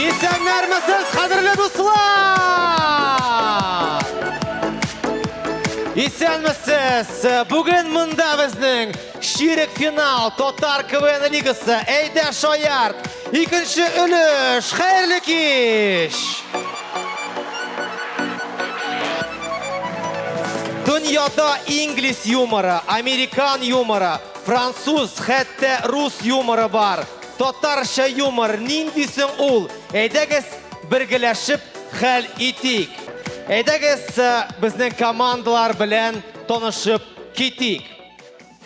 Исәннәрмесез, кадерле дуслар! Исәнмесез! Бүген монда безнең чирек финал Татар КВН лигасы Әйдә шаярт! Икенче өлеш, хәерле кич! Дөньяда инглиз юморы, американ юморы, француз, хәтта рус юморы бар. Татарча юмор нинди соң ул? Әйдәгез, бергәләшеп хәл итик. Әйдәгез, э, безнең командалар белән танышып китик.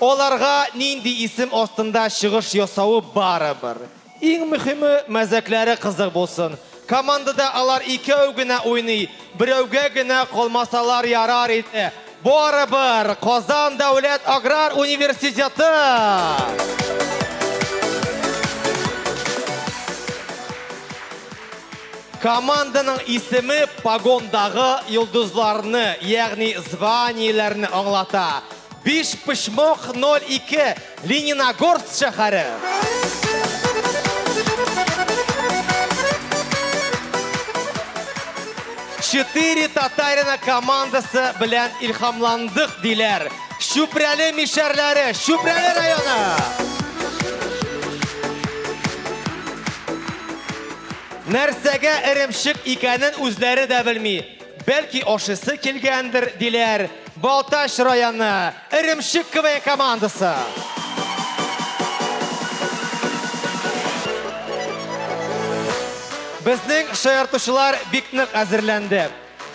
Аларга нинди исем астында чыгыш ясавы барыбер. Иң мөһиме, мәзәкләре кызык булсын. Командада алар икәү генә уйный, берәүгә генә калмасалар ярар иде. Барыбер, Казан дәүләт аграр университеты! Команданың исеме погондагы йолдызларны, ягъни званиеләрне аңлата. Биш почмок 02 Лениногорск шәһәре. Четыре татарина командасы белән илхамландык диләр. Чүпрәле мишәрләре, Чүпрәле районы. Нәрсәгә эремчек икәнен үзләре дә белми. Бәлки ашыйсы килгәндер, диләр Балтач районы Эремчек КВН командасы. Безнең шаяртучылар бик нык әзерләнде.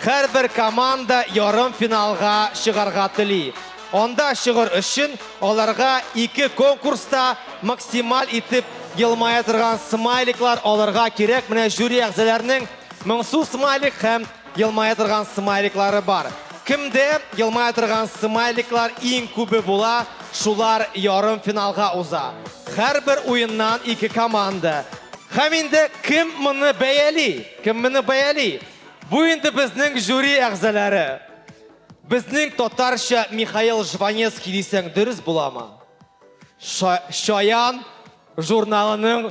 Һәрбер команда ярым финалга чыгарга тели. Анда чыгыр өчен аларга ике конкурста максималь итеп елмая торган смайликлар алырга кирәк. Менә жюри әгъзаларының Моңсу смайлик һәм елмая торган смайликлары бар. Кемдә елмая торган смайликлар иң күбе була, шулар ярым финалга уза. Һәрбер уеннан ике команда. Һәм инде кем моны бәяли? Кем моны бәяли? Бу инде безнең жюри әгъзалары. Безнең татарча Михаил Жванецкий дисәң дөрес буламы? Шаян журналының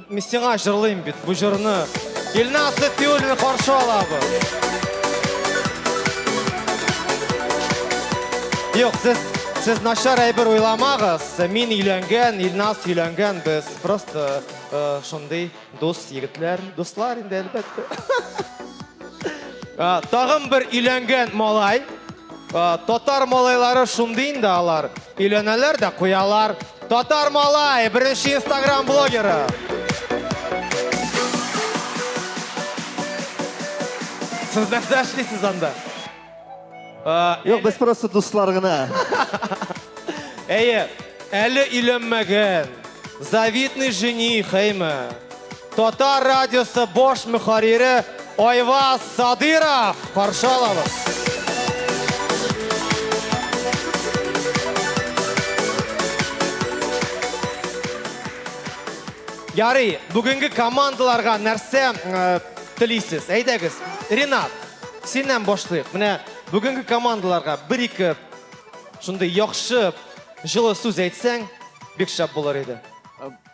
Мин сиңа җырлыйм бит бу җырны. Илназ Сәтиуллин каршы алабыз. Юк, сез сез начар әйбер уйламагыз. Мин өйләнгән, Илназ өйләнгән без. Просто э, шундый дус егетләр, дуслар инде әлбәттә. Тагын бер өйләнгән малай. Татар малайлары шундый инде алар. Өйләнәләр дә куялар. Татар малай, беренче инстаграм блогеры. Сез нәрсә эшлисез анда? Юк, без просто дуслар гына. Әйе, әле өйләнмәгән, завидный жених, әйме? Татар радиосы бош мөхәррире Айваз Садыров каршы алабыз. Ярый, бүгенге командаларга нәрсә э, телисез? Әйдәгез, Ренат, синнән башлыйк. Менә бүгенге командаларга бер-ике шундый яхшы җылы сүз әйтсәң, бик шәп булыр иде.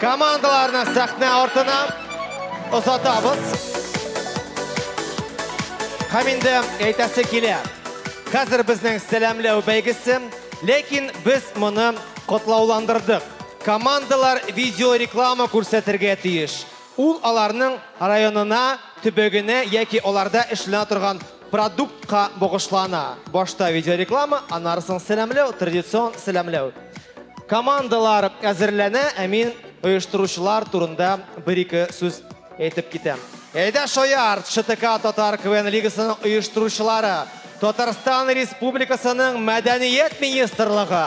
Командаларны сәхнә артына озатабыз. Һәм инде әйтәсе килә. Хәзер безнең сәламләү бәйгесе, ләкин без моны котлауландырдык. Командалар видеореклама күрсәтергә тиеш. Ул аларның районына, төбәгенә яки аларда эшләнә торган продуктка багышлана. Башта видеореклама, аннары соң сәламләү, традицион сәламләү. Командалар әзерләнә, ә мин оештыручылар турында бер-ике сүз әйтеп китәм. Әйдә шаярт! ШТК Татар КВН лигасының оештыручылары, Татарстан Республикасының Мәдәният министрлыгы!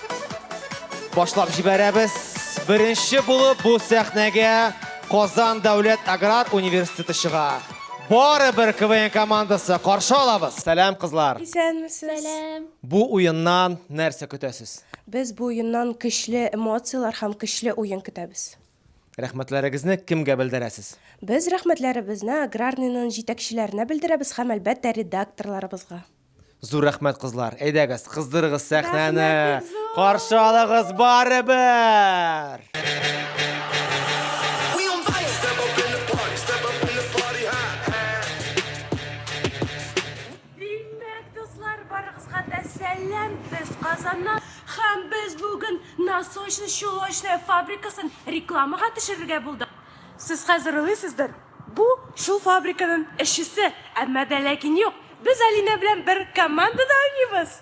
Башлап җибәрәбез. Беренче булып бу сәхнәгә Казан дәүләт аграр университеты чыга. Бары бер КВН командасы каршы алабыз. Сәлам, кызлар. Исәнмесез. Сәлам. Бу уеннан нәрсә көтәсез? Без бу уеннан көчле эмоцияләр һәм көчле уен көтәбез. Рәхмәтләрегезне кемгә белдерәсез? Без рәхмәтләребезне Аграрныйның җитәкчеләренә белдерәбез һәм, әлбәттә, редакторларыбызга. Зур рәхмәт, кызлар. Әйдәгез, кыздырыгыз сәхнәне. Каршы алыгыз барыбер! Казаннан һәм без бүген насочный чулочная фабрикасын рекламага төшерергә булдык. Сез хәзер уйлыйсыздыр, Бу, шул фабриканың эшчесе, әмма дә ләкин юк, без Алинә белән бер командада уйныйбыз!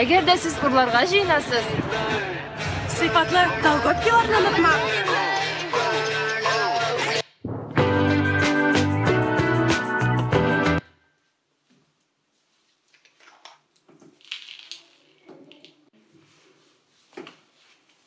Әгәр дә сез урларга җыенасыз, сыйфатлы колготкиларны онытмагыз.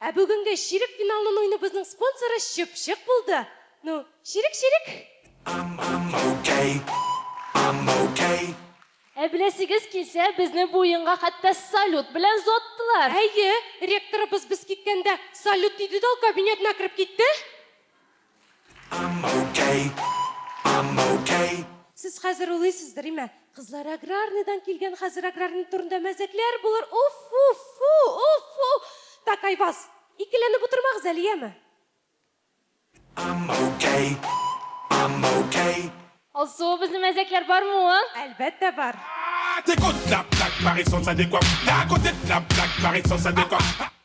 Ә бүгенге чирек финалын уйныбызның спонсоры Чыпчык булды. Ну, чирек, чирек! Ә беләсегез килсә, безне бу уенга хәтта салют белән зоттылар! Әйе, ректорыбыз без киткәндә салют диде дә ул кабинетына кереп китте. Сез хәзер уйлыйсыздыр, име, кызлар аграрныйдан килгән, хәзер аграрный турында мәзәкләр булыр, уф-фу-фу, уф-фу! Так, Айбаз, икеләнеп утырмагыз әле, яме? Алсу, безнең мәзәкләр бармы ул? Әлбәттә бар.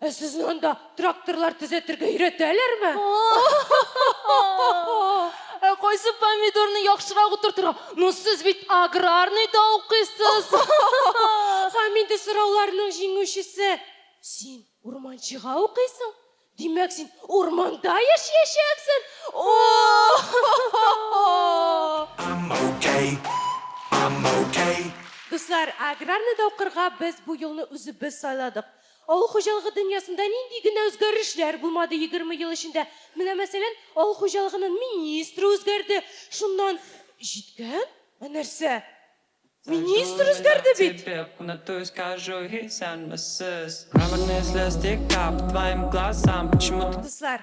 Ә сезне анда тракторлар төзәтергә өйрәтәләрме? Ә кайсы помидорны яхшырак утыртырга? Ну, сез бит аграрный да укыйсыз. Һәм инде сорауларның җиңүчесе. Син урманчыга укыйсың? Димәк, син урманда яшәячәксең? Дуслар, аграрныйда укырга без бу юлны үзебез сайладык. Авыл хуҗалыгы дөньясында нинди генә үзгәрешләр булмады егерме ел эчендә. Менә мәсәлән, авыл хуҗалыгынын министры үзгәрде, шуннан җиткән? Ә нәрсә? Министр үзгәрде бит! Дуслар,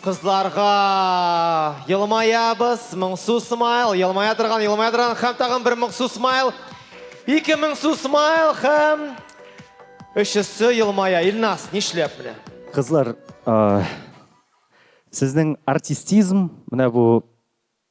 Кызларга елмаябыз, моңсу смайл, елмая торган, елмая торган, һәм тагын бер моңсу смайл. Ике моңсу смайл һәм өчесе елмая. Илнас, нишләп менә? Кызлар, а, сезнең артистизм, менә бу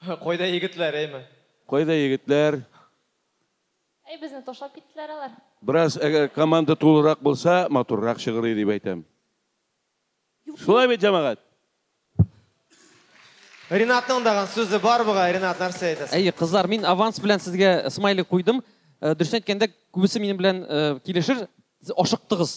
Кайда егетләр, әйме? Кайда егетләр? Әй, безне ташлап киттеләр алар. Бераз әгәр команда тулырак булса, матуррак чыгыр иде дип әйтәм. Шулай бит, җәмәгать? Ринатның даган сүзе бар бугай, Ринат, нәрсә әйтәсең? Әйе, кызлар, мин аванс белән сезгә смайлик куйдым. Дөресен әйткәндә, күбесе минем белән килешер, сез ашыктыгыз.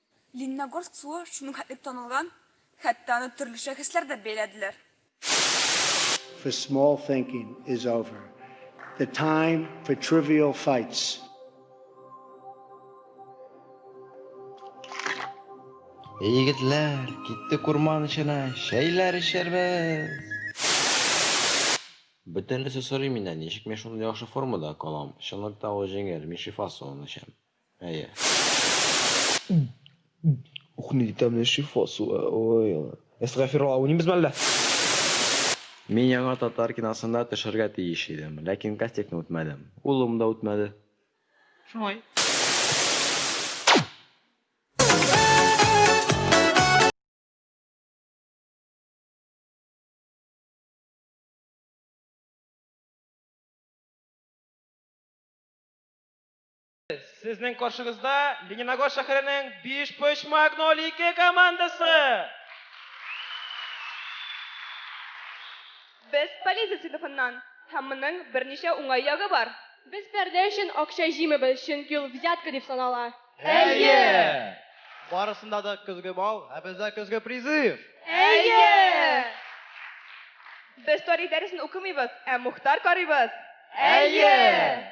Лениногорск суы шуның хәтлек танылган, хәтта аны төрле шәхесләр дә бәяләделәр. for small thinking is over. The time for trivial fights. Эй, егетләр, киттек урман эченә, чәйләр эчәрбез! Бөтенлесе сорый миннән, ничек мин шундый яхшы формада калам? Чынлыкта ул җиңел, мин шифа суын эчәм. Әйе. Ух, нинди тәмле шифа суы. Ой, ой. Эсга фирала уйнымыз мәллә? Мин яңа татар киносында төшәргә тиеш идем, ләкин кастингны үтмәдем. Улым да үтмәде. Шулай. Сезнең каршыгызда Лениногорск шәһәренең Бишпочмак 02 командасы. Без полиция сыйныфыннан һәм моның берничә уңай ягы бар. Без пәрдә өчен акча җыймыйбыз, чөнки ул взятка дип санала. Әйе! Барысында да көзге бал, ә бездә көзге призыв. Әйе! Без тарих дәресен укымыйбыз, ә Мухтар карыйбыз. Әйе!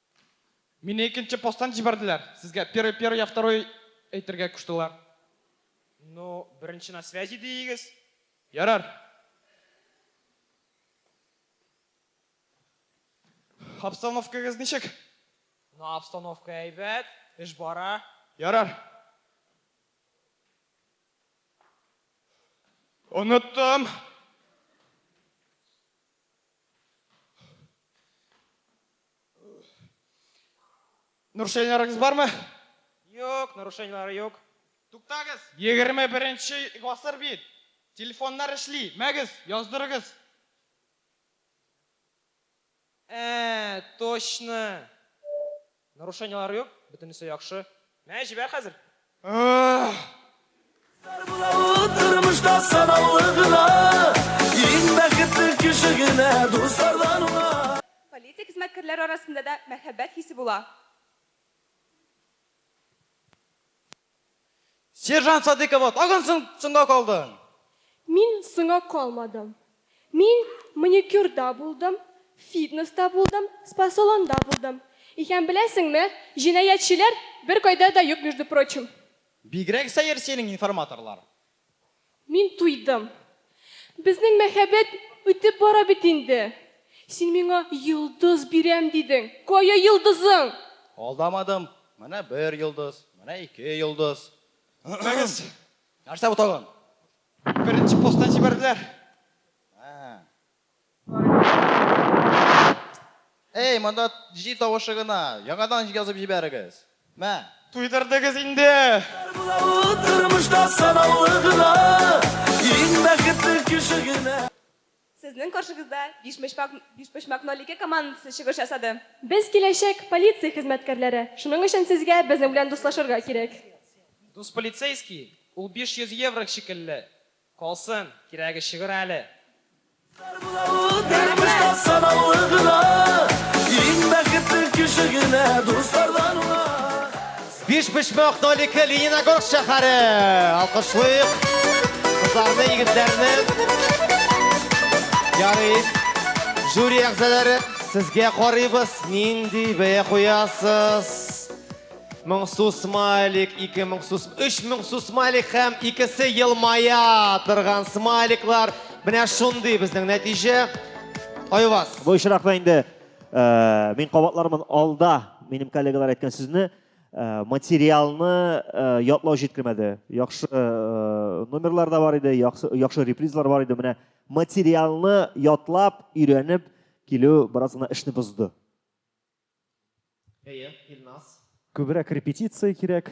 Мине икенче посттан җибәрделәр. Сезгә первый, первый, я второй әйтергә куштылар. Ну, беренче на связи диегез. Ярар. Обстановкагыз ничек? Ну, обстановка әйбәт, эш бара. Ярар. Оныттым. Нарушениеларыгыз бармы? Юк, нарушениелары юк. Туктагыз, 21 нче гасыр бит. Телефоннар эшли, мәгез, яздырыгыз. Ә, точно. Нарушениелары юк, бөтенесе яхшы. Мә, җибәр хәзер. Тормышта санаулы гына, иң бәхетле кеше генә дуслардан уңа. Полиция хезмәткәрләре арасында да мәхәббәт хисе була. Сержант Садыйкова, тагын соңга калдың! Мин соңга калмадым. Мин маникюрда булдым, фитнеста булдым, спа-салонда булдым. Икән беләсеңме, җинаятьчеләр беркайда да юк между прочим. Бигрәк сәер синең информаторлар. Мин туйдым. Безнең мәхәббәт үтеп бара бит инде. Син миңа йолдыз бирәм дидең. Кая йолдызың? Алдамадым. Менә бер йолдыз, менә ике йолдыз. Торыгыз! Нәрсә бу тагын? Беренче посттан җибәрделәр. Эй, монда җил тавышы гына. Яңадан язып җибәрегез. Мә. Туйдырдыгыз инде. Тормышта санаулы гына, иң бәхетле кеше генә. Сезнең каршыгызда Бишпочмак Бишпочмак 02 командасы чыгыш ясады. Без киләчәк полиция хезмәткәрләре, шуның өчен сезгә безнең белән дуслашырга кирәк. Дус полицейский, ул 500 еврог шикелле, калсын, кирәге чыгыр әле. Бар була ул тормышта санаулы гына, Иң бәхетле кеше генә дуслардан уңа. Бишбишмәк Нолике Лениногорск шәһәре. Алкышлыйк. Кызларны, егетләрне. Ярый. Жюри әгъзалары, сезгә карыйбыз. Нинди бәя куясыз? 1000 су смайлик, 2000 су, 3000 су смайлик һәм икесе елмая торган смайликлар. Менә шундый безнең нәтиҗә. Айваз. Бу очракта инде Э, мин кабатлармын алда минем коллегалар әйткән сүзне э, материалны э, ятлау җиткермәде яхшы номерлар да бар иде яхшы репризлар бар иде менә материалны ятлап өйрәнеп килү бераз гына эшне бозды әйе илназ күбрәк репетиция кирәк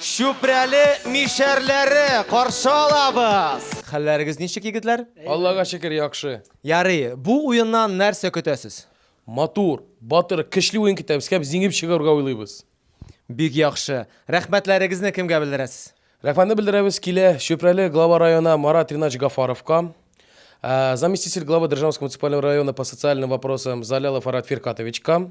Чүпрәле мишәрләре каршы алабыз! Хәлләрегез ничек, егетләр? Аллага шөкер, яхшы. Ярый, бу уеннан нәрсә көтәсез? Матур, батыр, көчле уен көтәбез һәм җиңеп чыгарга уйлыйбыз. Бик яхшы. Рәхмәтләрегезне кемгә белдерәсез? Рәхмәтне белдерәбез килә Чүпрәле глава районы Марат Ринач Гафаровка, заместитель главы Державнского муниципального района по социальным вопросам Залялов Арат Фиркатовичка,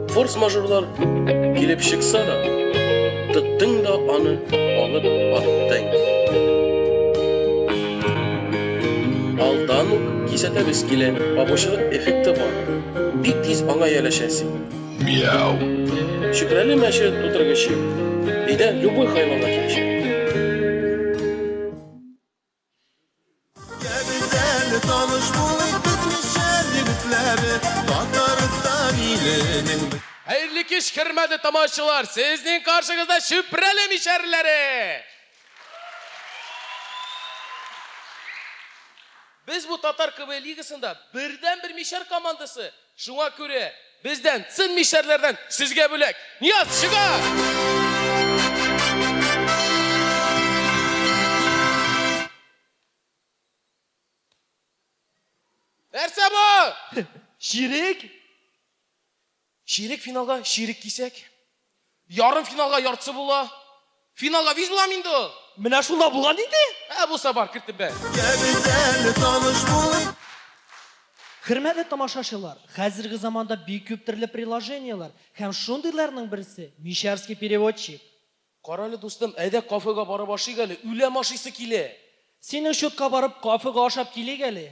Форс-мажорлар килеп чыкса да, тоттың да аны алып аттың. Алдан ук кисәтәбез килә, бабочылык эффекты бар. Бик тиз аңа ияләшәсең. Мяу. Чүпрәле мәче тутыргычы. Өйдә любой хайванга килешә. Хәерле кич, хөрмәтле тамашачылар! Сезнең каршыгызда Чүпрәле мишәрләре! Без бу татар КВН лигасында бердәнбер мишәр командасы, Шуңа күрә бездән, цин мишәрләрдән сезгә бүләк! Нияз, чыгар! Нәрсә бу? Чирек? Чирек финалга чирек кисәк. Ярымфиналга яртысы була. Финалга виз булам инде ул. Менә шунда булган инде. Ә булса бар, кертеп бәр. Хөрмәтле тамашачылар, хәзерге заманда бик күп төрле приложениеләр һәм шундыйларның берсе Мишәрский переводчик. Карале, дустым, әйдә кафега барып ашыйк әле, үләм ашыйсы килә. Синең счетка барып кафега ашап килик әле.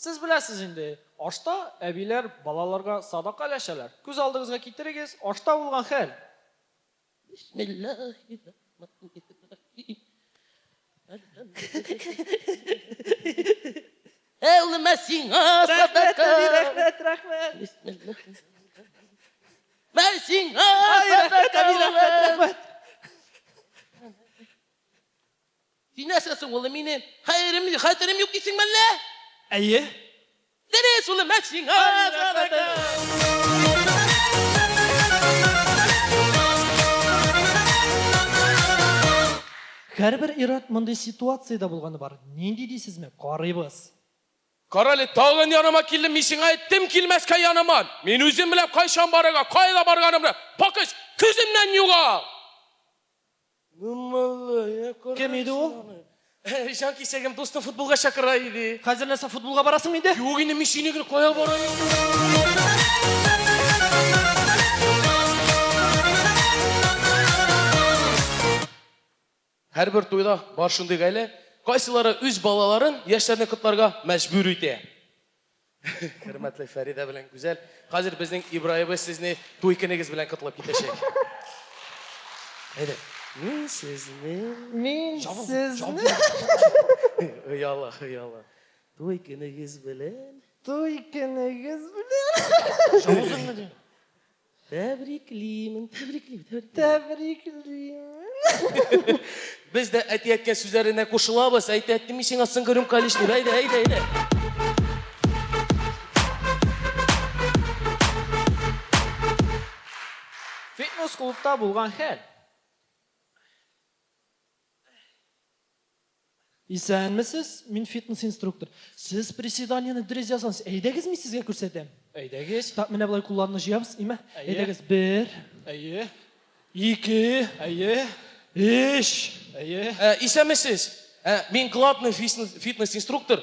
Сез беләсез инде, ашта әбиләр балаларга садака өләшәләр. Күз алдыгызга китерегез, ашта булган хәл. Бисмиллаһи-рахманир-рахим. Әлхәмдүлиллаһи. Әй улым, ә сиңа садака. Рәхмәт, рәхмәт, рәхмәт. Мә сиңа садака. Рәхмәт, рәхмәт. Син нәрсәсең, улым, минем хәерем, хәтерем юк дисеңме әллә? Әйе. Дөрес, улым, ә сиңа рәхмәтем. Һәрбер ир-ат мондый ситуациядә булганы бар. Нинди дисезме? Карыйбыз. Карале, тагын яныма килдем, мин сиңа әйттем килмәскә яныма! Мин үзем беләм кайчан барырга, кая барганымны! Пакыч, күземнән югал! Кем иде ул? Җан кисәгем дустым футболга чакыра иде. Хәзер нәрсә футболга барасың инде? Юк инде мин сине генә кая барам? Һәрбер туйда бар шундый гаилә, кайсылары үз балаларын, яшьләрне котларга мәҗбүр итә. Хөрмәтле Фәридә белән Гүзәл. Хәзер безнең Ибраебыз сезне туй көнегез белән котлап китәчәк. Әйдә. Мин сезне... Мин сезне... Ояла, ояла. Туй көнегез белән... Туй көнегез белән... Җавызыңмы, дим? Тәбриклимен, тәбриклим, тәбриклим. Тәбриклим. Без дә әти-әткә сүзләренә кушылабыз. Әйтә, әти, мин сиңа соңгы рюмка лишь дип. Әйдә, әйдә, әйдә. Фитнес клубта булган хәл. Исәнмесез, мин фитнес инструктор. Сез приседаниене дөрес язгансыз. Әйдәгез, мин сезгә күрсәтәм. Әйдәгез. Так, менә болай кулларны җыябыз, име? Әйе. Әйдәгез, бер. Әйе. Ике. Әйе. Өч. Әйе. Исәнмесез, мин главный фитнес инструктор.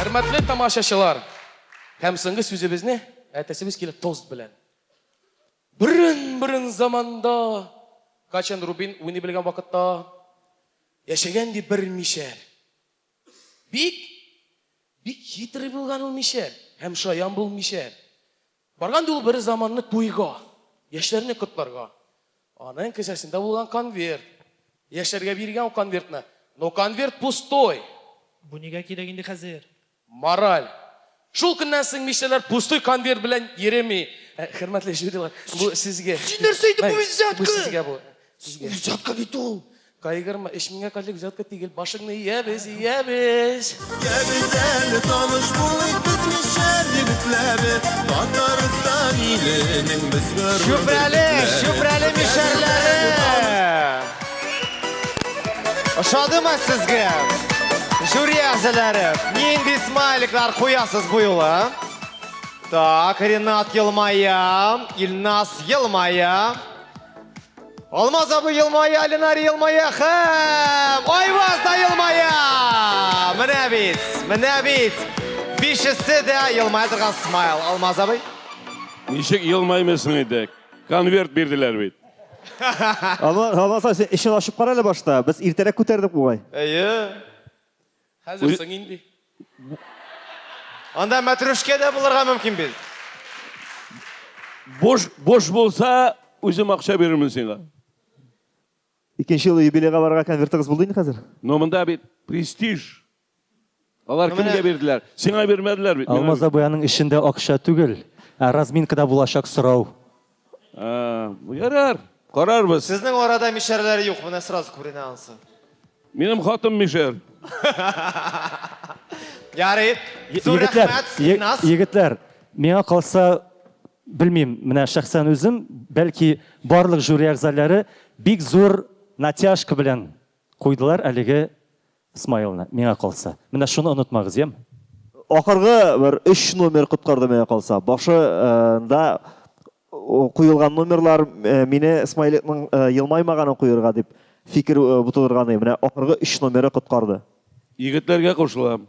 Хөрмәтле тамашачылар, һәм соңгы сүзебезне әйтәсебез килә тост белән. Бүрен-бүрен заманда Качан Рубин уйный белгән вакытта яшәгән ди бер мишәр. Бик бик хитрый булган ул мишәр һәм шаян бул мишәр. Барган ди ул бер заманны туйга, яшьләрне котларга. Аның кесәсендә булган конверт. Яшьләргә биргән ул конвертны. Но конверт пустой. Бу нигә кирәк инде хәзер? Мораль. Шул көннән соң мишәрләр пустой конверт белән йөреми. Ә, Хөрмәтле жюрилар, бу сезгә. Син нәрсә әйтеп, бу взятка! Бу сезгә бу. Сезгә. Взятка бит ул. Кайгырма, эч миңа кадәр взятка тигел, башыңны иябез, иябез! Иябез әле таныш булып без мишәр егетләре, Татарстан иленең без горур Чүпрәле, Чүпрәле мишәрләре! Ошадымы сезгә? Жюри әгъзалары, нинди смайликлар куясыз бу юлы? Так, Ренат елмая, Илназ елмая. Алмаз абый елмая, Алинар елмая һәм Айваз да елмая! Менә бит, менә бит. Бишесе дә елмая торган смайл. Алмаз абый. Ничек елмаймыйсың инде? Конверт бирделәр бит. Алмаз абый, син эшен ачып кара әле башта. Без иртәрәк күтәрдек бугай. Әйе. Хәзер Үл... соң инде. Анда мәтрүшкә дә булырга мөмкин бит. Буш, буш булса, үзем акча бирермен сиңа. Икенче ел юбилейга барырга конвертыгыз булды инде хәзер? Но монда бит престиж. Алар ну, кемгә бирделәр? Сиңа бирмәделәр бит. Алмаз абый аның эчендә акча түгел, ә разминкада булачак сорау. Ярар, карарбыз. Сезнең арада мишәрләр юк, менә сразу күренә ансы. Минем хатым мишәр. Ярый. Зур рәхмәт, Синнас. Егетләр, миңа калса, белмим, менә шәхсән үзем, бәлки барлык жюри әгъзалары бик зур натяжка белән куйдылар әлеге Смайлны, миңа калса. Менә шуны онытмагыз, яме? Ахыргы бер өч номер коткарды миңа калса. Башы нда куелган номерлар мине Смайликның елмаймаганын куерга дип фикер бутылырганы. Менә ахыргы өч номеры коткарды. Егетләргә кушылам.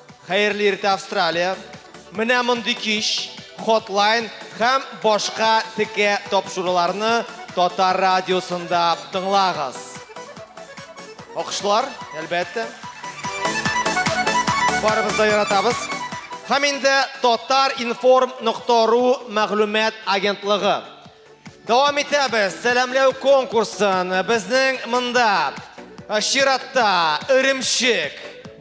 Хәерле иртә Австралия! Менә мондый кич, хотлайн һәм башка текә тапшыруларны Татар радиосында тыңлагыз. Алкышлар, әлбәттә. Барыбыз да яратабыз. Һәм инде Татар информ нокта ру мәгълүмат агентлыгы. Дәвам итәбез. Сәламләү конкурсын безнең монда чиратта Өремчек,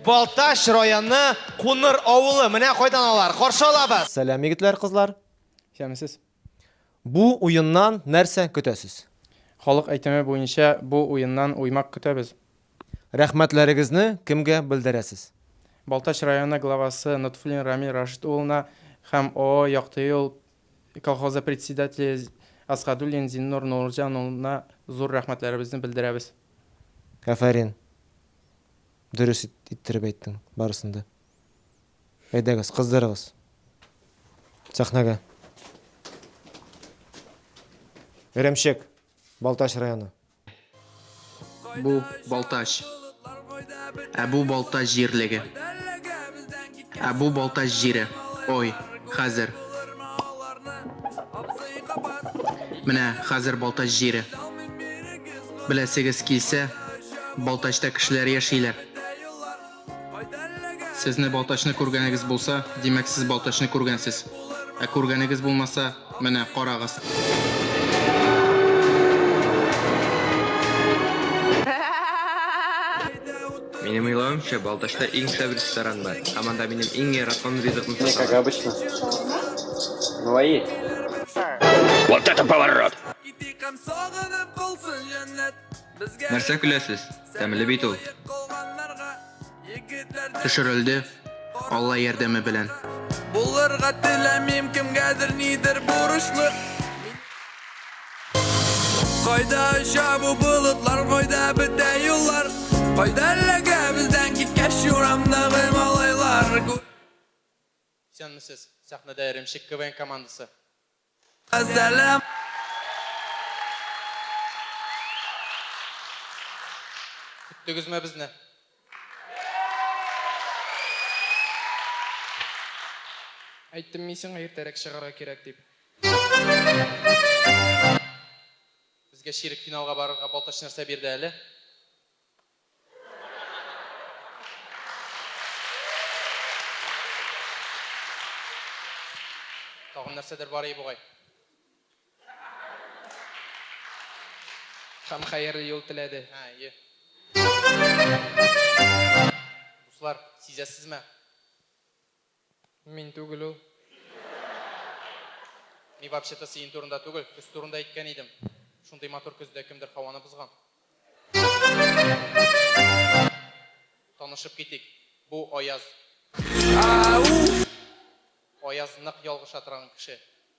Балтач районы Куныр авылы. Менә кайдан алар. Каршы алабыз. Сәлам, егетләр, кызлар. Исәнмесез. Бу уеннан нәрсә көтәсез? Халык әйтеме буенча, бу уеннан уймак көтәбез. Рәхмәтләрегезне кемгә белдерәсез? Балтач районы главасы Нотфуллин Рамил Рашит улына һәм ООО Якты юл Колхозы председателе Асгадуллин Зиннур Нурҗан улына зур рәхмәтләребезне белдерәбез. Афәрин! Дөрес иттереп әйттең барысын да. Әйдәгез, кыздырыгыз сәхнәгә. Эремчек, Балтач районы. Бу Балтач. Ә бу Балтач җирлеге. Ә бу Балтач җире. Ой, хәзер. Менә хәзер Балтач җире. Беләсегез килсә, Балтачта кешеләр яшиләр. Сезне Балтачны күргәнегез булса, димәк сез Балтачны күргәнсез. Ә күргәнегез булмаса, менә, карагыз. Минем уйлавымча, Балтачта иң шәп ресторан бар. Һәм анда минем иң яраткан ризыгым Не, как обычно. Говори. Вот это поворот! Нәрсә көләсез? Тәмле бит ул. Төшерелде, Алла ярдәме белән. Булырга теләмим кемгәдер нидер бурычлы. Кайда оча бу болытлар, кайда бетә юллар? Кайда эләгә бездән киткәч юрамдагы малайлар? Исәнмесез! Сәхнәдә Эремчек КВН командасы. Газәлем. Көттегезме безне? Әйттем мин сиңа иртәрәк чыгарга кирәк дип. Безгә чирек финалга барырга Балтач нәрсә бирде әле? Тагын нәрсәдер бар ие бугай. Һәм хәерле юл теләде. Һә, ие. Дуслар, сизәсезме? Мин түгел ул. Мин вообще-то сиен турында түгел, көз турында әйткән идем. Шундый матур көздә кемдер һаваны бозган. Танышып китик, бу Аяз. Аяз нык ялгыша торган кеше.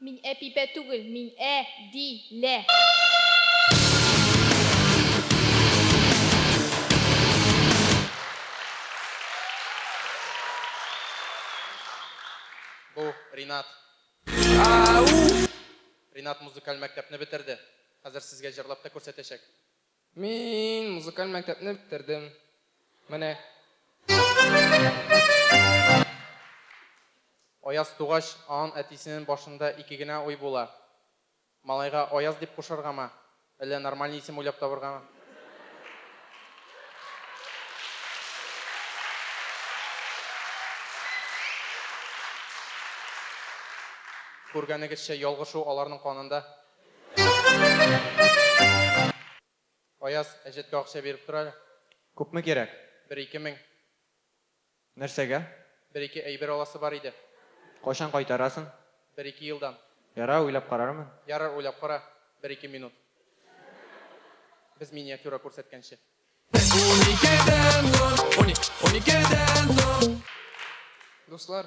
Мин әпипә түгел, мин ә, ди, лә. Бу, Ринат. Ринат музыкаль мәктәпне бетерде. Хәзер сезгә җырлап та күрсәтәчәк. Мин музыкаль мәктәпне бетердем. Менә. Аяз тугач, аан әтисенен башында ике генә уй була. Малайга Аяз дип кушаргамы, әллә нормальный исем уйлап табыргамы? Күргәнегезчә, ялгышу аларның канында. Аяз, әҗәткә акча биреп тор әле. Күпме кирәк? Бер-ике мең. Нәрсәгә? Бер-ике әйбер аласы бар иде. Кайчан кайтарасың? Бер-ике елдан. Ярар, уйлап карармын. Ярар, уйлап кара. Бер-ике минут. Без миниатюра күрсәткәнче. Дуслар,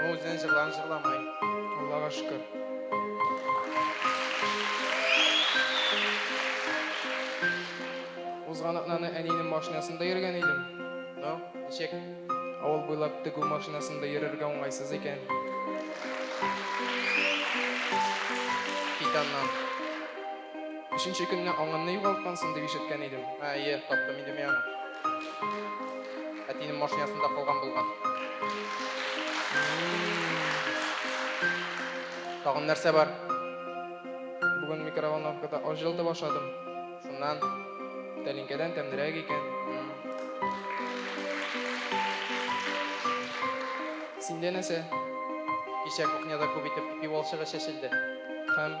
Ул үзенең җырларын җырламый. Аллага шөкер. Узган атнаны әниемнең машинасында йөргән идем. Ну, ничек? Авыл буйлап тегү машинасында йөрергә уңайсыз икән. Кит аннан. Өченче көнне аңынны югалткансың дип ишеткән идем. Ә, әйе, таптым инде мин аны. Әтинең машинасында калган булган. Тагын нәрсә бар? Бүген микроволновкада аш җылытып ашадым. Шуннан тәлинкәдән тәмнерәк икән. Синдә нәрсә? Кичә кухняда күп итеп пиволчыгы чәчелде. Һәм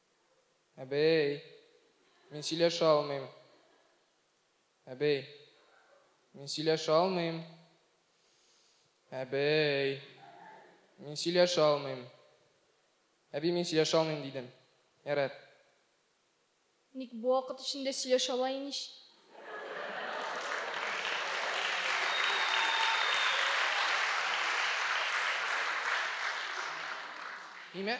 Әбей, мин сөйләшә алмыйм. Әбей, мин сөйләшә алмыйм. Әбей, мин сөйләшә алмыйм. Әби, мин сөйләшә алмыйм, дидем. Ярар. Ник бу вакыт эчендә сөйләшә ала имеш? Нимә?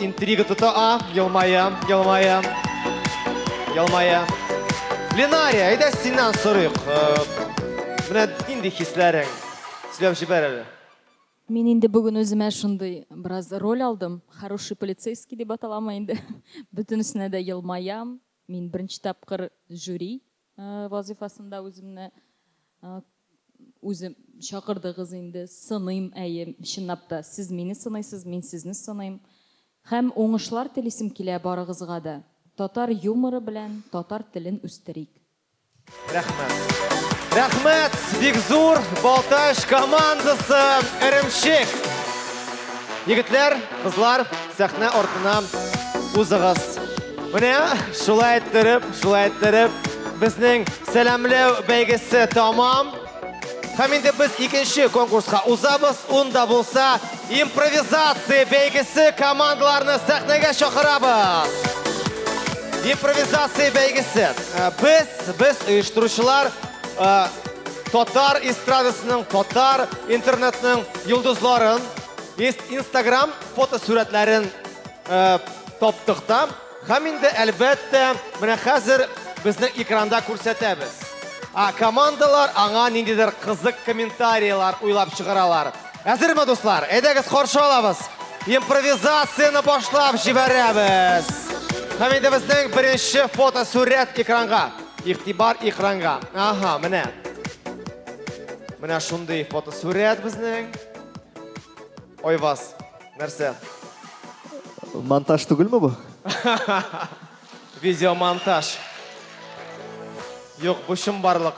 Интрига тота, а, елмая, елмая, елмая. Ленария, әйдә синнән сорыйк. Менә нинди хисләрең? Сөйләп җибәр әле. Мин инде бүген үземә шундый бераз роль алдым. Хороший полицейский дип аталамы инде. Бөтенесенә дә елмаям. Мин беренче тапкыр жюри. Вазыйфасында үземне үзем чакырдыгыз инде, сыныйм, әйе, чынлап та, сез мине сыныйсыз, мин сезне сыныйм. Һәм уңышлар телисем килә барыгызга да. Татар юморы белән татар телен үстерик. Рәхмәт. Рәхмәт, Бикзур, Балтач командасы, Эремчек. Егетләр, кызлар, сәхнә артына узыгыз. Менә шулай иттереп, шулай иттереп, безнең сәламләү бәйгесе тамам. Һәм инде без икенче конкурска узабыз. Унда булса импровизация бәйгесе командаларны сәхнәгә чакырабыз. Импровизация бәйгесе. Э, без, без оештыручылар э, Татар эстрадасының, татар интернетның йолдызларын, инстаграм фотосурәтләрен э, таптык та, һәм инде әлбәттә, менә хәзер безнең экранда күрсәтәбез. А командалар аңа ниндидер кызык комментарийлар уйлап чыгаралар. Әзерме, дуслар? Әйдәгез, каршы алабыз. Импровизацияны башлап җибәрәбез. Һәм инде безнең беренче фотосурәт экранга. Игътибар экранга. Аһа, менә. Менә шундый фотосурәт безнең. Айваз, нәрсә? Монтаж түгелме бу? Видеомонтаж. Юк, бу чын барлык.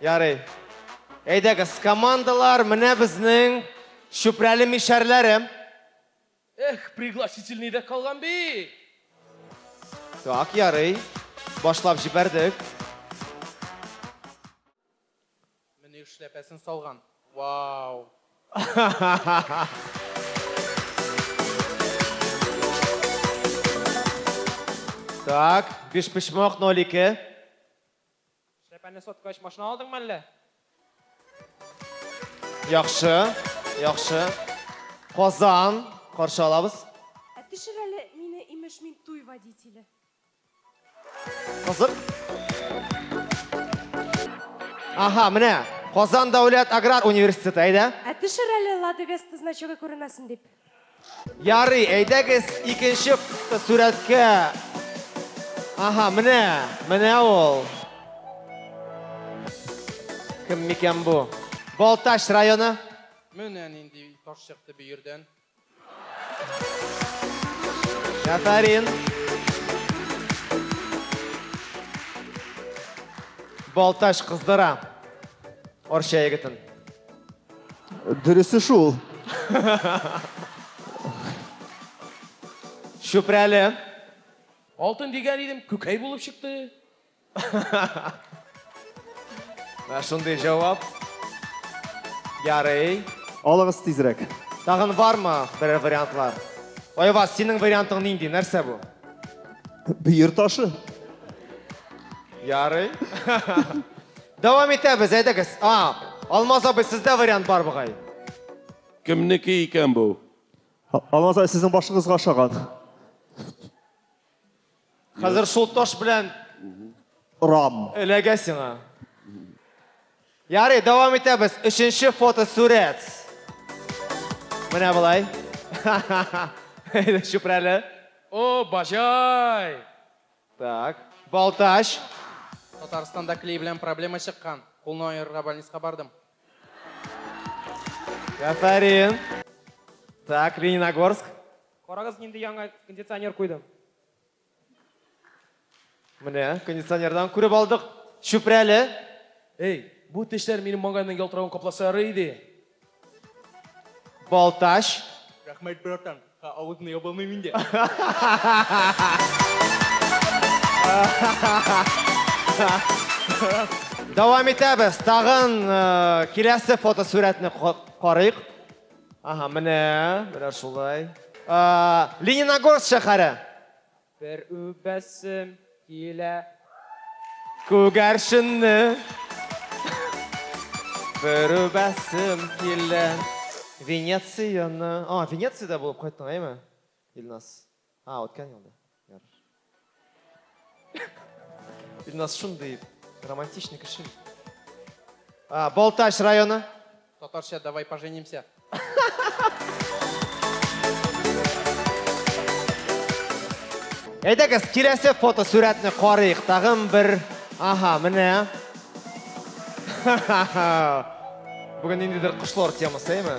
Ярый. Әйдәгез, командалар, менә безнең чүпрәле мишәрләре. Эх, пригласительный дә калган бит! Так, ярый. Башлап җибәрдек. Менә эшләпәсен салган. Вау! Так, бишпочмак, ноль ике. Эшләпәне соткач, машина алдыңмы әллә? Яхшы, яхшы. Казан, каршы алабыз. Ә төшер әле мине, имеш, мин туй водителе. Кызык. Аһа, менә Казан дәүләт аграр университеты, әйдә. Ә төшер әле Лада Веста значогы күренмәсен дип. Ярый, әйдәгез икенче сурәткә. Аһа, менә, менә ул. Кем микән бу? Балтач районы. Менә нинди таш чыкты бөердән. Афәрин. Балтач кыздыра. Орча егетен. Дөресе шул. Чүпрәле. Алтын дигән идем, күкәй булып чыкты. Ә шундый җавап. Ярый. Алыгыз тизрәк. Тагын бармы берәр вариантлар? Айваз, синең вариантың нинди? Нәрсә бу? Бөер ташы. Ярый. Дәвам итәбез, әйдәгез. А, Алмаз абый, сездә вариант бар бугай. Кемнеке икән бу? Алмаз абый, сезнең башыгызга ошаган. Хәзер шул таш белән Рам. эләгә сиңа. Ярый, дәвам итәбез. Өченче фото сурәт. Менә болай. Әйдә, чүпрәле. О, баҗай! Так. Балтач. Татарстанда клей белән проблема чыккан. Кулны аерырга больниска бардым. Афәрин. Так, Лениногорск. Карагыз, нинди яңа кондиционер куйдым. Менә, кондиционердан күреп алдык. Чүпрәле. Эй, бу тешләр минем маңгайның ялтыравын капласа ярый иде. Балтач. Рәхмәт, братан. Ә авызны яба алмыйм инде. Дәвам итәбез. Тагын э, киләсе фотосурәтне карыйк. Ага, менә, менә шулай. Лениногорск шәһәре. Бер үбәсем килә. Күгәрченне. Бер үбәсем килә. Венецияны. А, Венецияда булып кайттың, әйме? Илназ. А, үткән елда. Ярыш. Илназ шундый романтичный кеше. А, Балтач районы. Татарча давай поженимся. Әйдәгез, киләсе фото сурәтне карыйк. Тагын бер. Аха, менә. Бүген ниндидер кошлар темасы, әйме?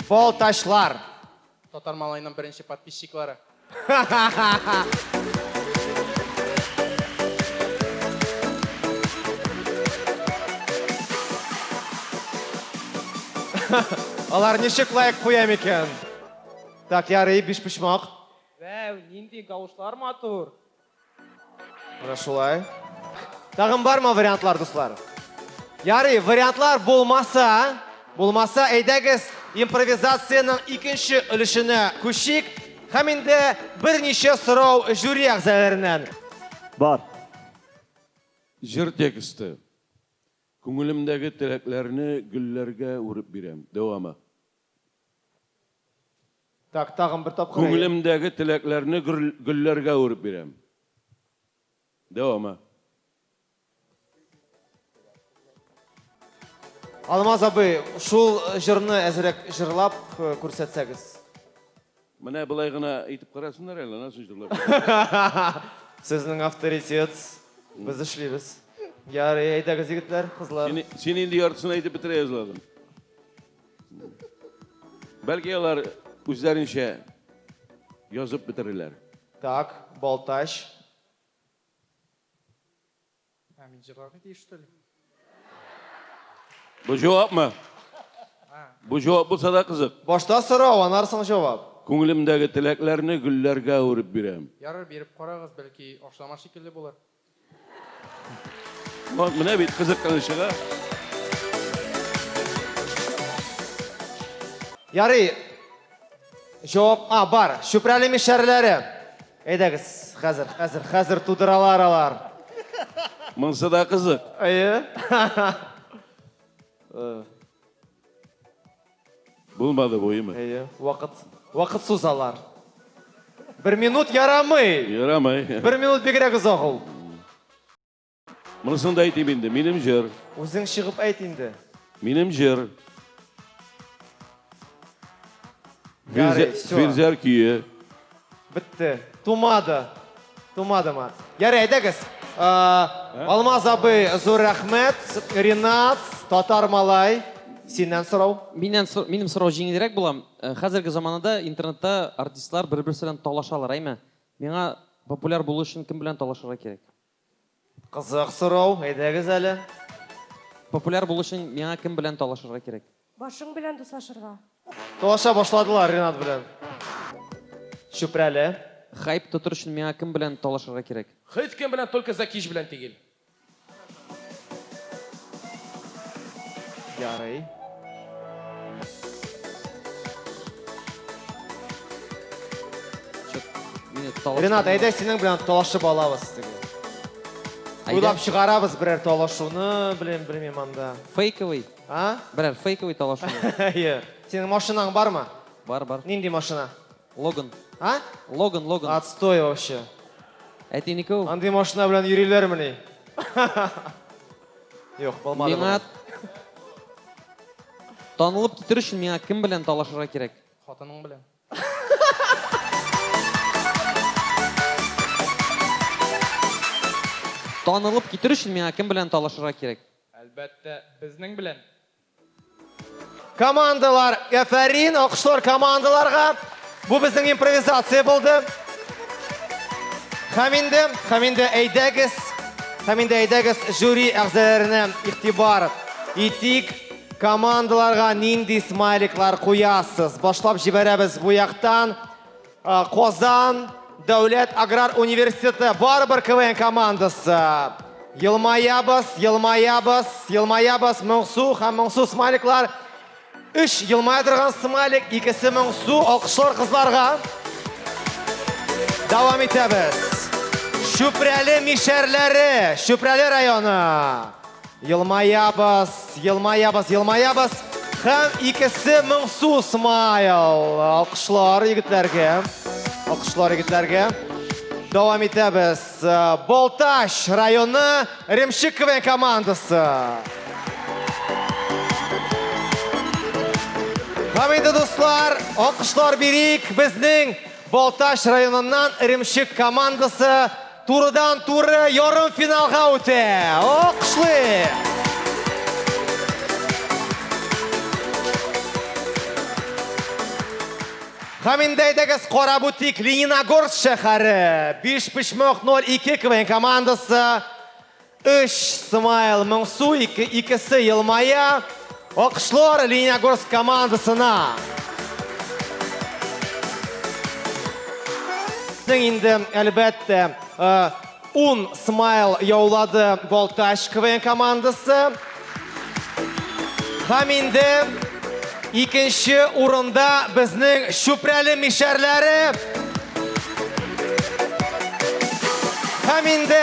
Балтачлар. Татар малайның беренче подписчиклары. Алар ничек лайк куя микән? Так, ярый, биш почмак. Вәү, нинди тавышлар матур. Менә шулай. Тагын бармы вариантлар, дуслар? Ярый, вариантлар булмаса, булмаса, әйдәгез импровизациянең икенче өлешенә күчик һәм инде берничә сорау жюри әгъзаларыннан. Бар. Җыр тексты. Күңелемдәге теләкләрне гөлләргә үреп бирәм. Дәвамы. Так, тагын бер тапкыр. Күңелемдәге теләкләрне гөлләргә әвереп бирәм. Дәвамы. Алмаз абый, шул җырны әзрәк җырлап күрсәтсәгез. Менә былай гына әйтеп карасыннар әле, аннан соң җырлап бирәм. Сезнең авторитет, без эшлибез. Ярый, әйдәгез, егетләр, кызлар. Син, син инде яртысын әйтеп бетерә язладың. Бәлки алар үзләренчә язып бетерерләр. Так, Балтач. Ә мин җырларга тиеш, что ли? Бу җавапмы? Бу җавап булса да кызык. Башта сорау, анар соң җавап. Күңелемдәге теләкләрне гөлләргә әвереп бирәм. Ярар, биреп карагыз, бәлки ашлама шикелле булыр. Вот, менә бит кызыкканычыга. Ярый. Җавап, а, бар. Чүпрәле мишәрләре. Әйдәгез, хәзер, хәзер, хәзер тудыралар алар. Монсы да кызык. Әйе. Булмады бу, име? Әйе, вакыт, вакыт сузалар. Бер минут ярамый. Ярамый. Бер минут бигрәк озак ул. Монысын да әйтим инде. Минем җыр. Үзең чыгып әйт инде. Минем җыр. Ярый, всё. Фирзәр көе. Бетте. Тумады. Тумадымы? Ярый, әйдәгез. Ә, Алмаз абый, зур рәхмәт. Ринат, татар малай. Синнән сорау. Миннән сор- минем сорау җиңелрәк була. Э, Хәзерге заманада интернетта артистлар бер-берсе белән талашалар, әйме? Миңа популяр булу өчен кем белән талашырга кирәк? Кызык сорау, әйдәгез әле. Популяр булу өчен миңа кем белән талашырга кирәк? Башың белән дуслашырга. Талаша башладылар Ренат белән. Чүпрәле. Хайп тотыр өчен миңа кем белән талашырга кирәк? Һич кем белән, только Закич белән тигел. Ярый. Ренат, әйдә синең белән талашып алабыз теге. Уйлап чыгарабыз берәр талашуны, белем белмим анда. Фейковый. А? Берәр фейковый талашу. Әйе. Синең машинаң бармы? Бар, бар. Нинди машина? Логан. А? Логан, Логан. Отстой вообще. Әтинеке ул. Андый машина белән йөриләрмени? Юк, булмады. Миңа танылып китер өчен миңа кем белән талашырга кирәк? Хатының белән. Танылып китер өчен миңа кем белән талашырга кирәк? Әлбәттә, безнең белән. Командалар, әфәрин, алкышлар командаларга. Бу безнең импровизация булды. Һәм инде, һәм инде әйдәгез, һәм инде әйдәгез жюри әгъзаларына игътибар итик. Командаларга нинди смайликлар куясыз? Башлап җибәрәбез бу яктан. Казан дәүләт аграр университеты барыбер КВН командасы. Елмаябыз, елмаябыз, елмаябыз Моңсу һәм Моңсу смайликлар. Үш елмая торган смайлик, икесе Моңсу, алкышлар кызларга. Дәвам итәбез. Чүпрәле мишәрләре, Чүпрәле районы. Елмаябыз, елмаябыз, елмаябыз. Хәм икесе моңсу смайл. Алкышлар егетләргә. Алкышлар егетләргә. Дәвам итәбез. Болташ районы Ремшик КВН командасы. Һәм инде дуслар, алкышлар бирик безнең Болташ районыннан Ремшик командасы Турыдан-туры ярымфиналга үтә. Алкышлыйк! Һәм инде әйдәгез карап үтик Лениногорск шәһәре. Бишпочмак 02 КВН командасы Өч, смайл, моңсу, ике, икесе елмая. Алкышлар Лениногорск командасына. Безнең инде, әлбәттә, э, ун смайл яулады Балтач КВН командасы. Һәм инде икенче урында безнең Чүпрәле мишәрләре. Һәм инде